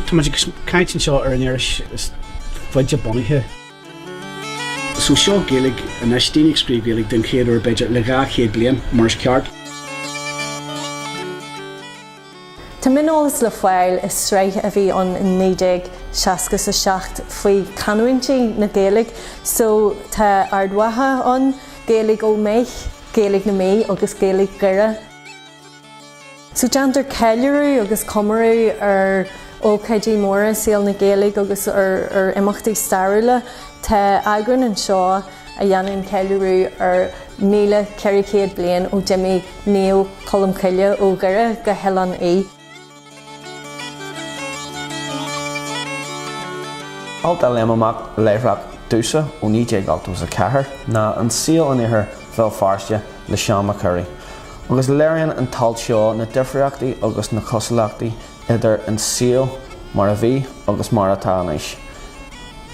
Tá muid ag caint anseo ar an iris is faide bunaithe. So seo Gaeilge anois, daoine ag scríobh Gaeilge den chéad uair b'fhéidir le 200 bliain, mar is ceart. Tá mioneolas le fáil i sraith a bhí ann in 1967 faoi canúintí na Gaeilge. So tá Ard Mhacha ann, Gaeilge Ó Méith, Gaeilge na Mí agus Gaeilge Dhoire. Déantar ceiliúradh agus comóradh ar ócáidí móra i saol na Gaeilge agus ar imeachtaí stairiúla. Tá eagrán anseo a dhéanann ceiliúradh ar 1400 bliain ó d'imigh Naomh Colm Cille ó Dhoire go hOileán Í. Alt a léim amach láithreach domhsa ó 1984 ná 'An Saol in Iarthar Bhéal Feirste' le Seán Mac Corraidh, agus léiríonn an t-alt seo na difríochtaí agus na cosúlachtaí idir an saol mar a bhí agus mar atá anois.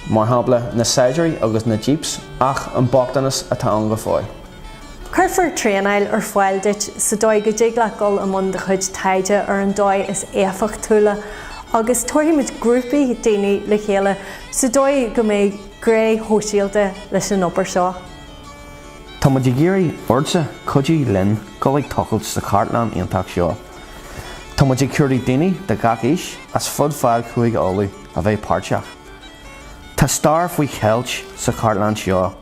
Mar shampla, na saighdiúirí agus na jeeps, ach an bochtanas atá ann go fóill. Cuirfear traenáil ar fáil duit sa dóigh go dtig leat dul i mbun do chuid taighde ar an dóigh is éifeachtúla agus tabharfaimid grúpaí daoine le chéile sa dóigh go mbeidh gné shóisialta leis an obair seo. Tá muid ag iarraidh ortsa cuidiú linn dul ag tochailt sa chartlann iontach seo. Tá muid ag cuardach daoine de gach aois as fud fad Chúige Uladh a bheith páirteach. Tá stair faoi cheilt sa chartlann seo.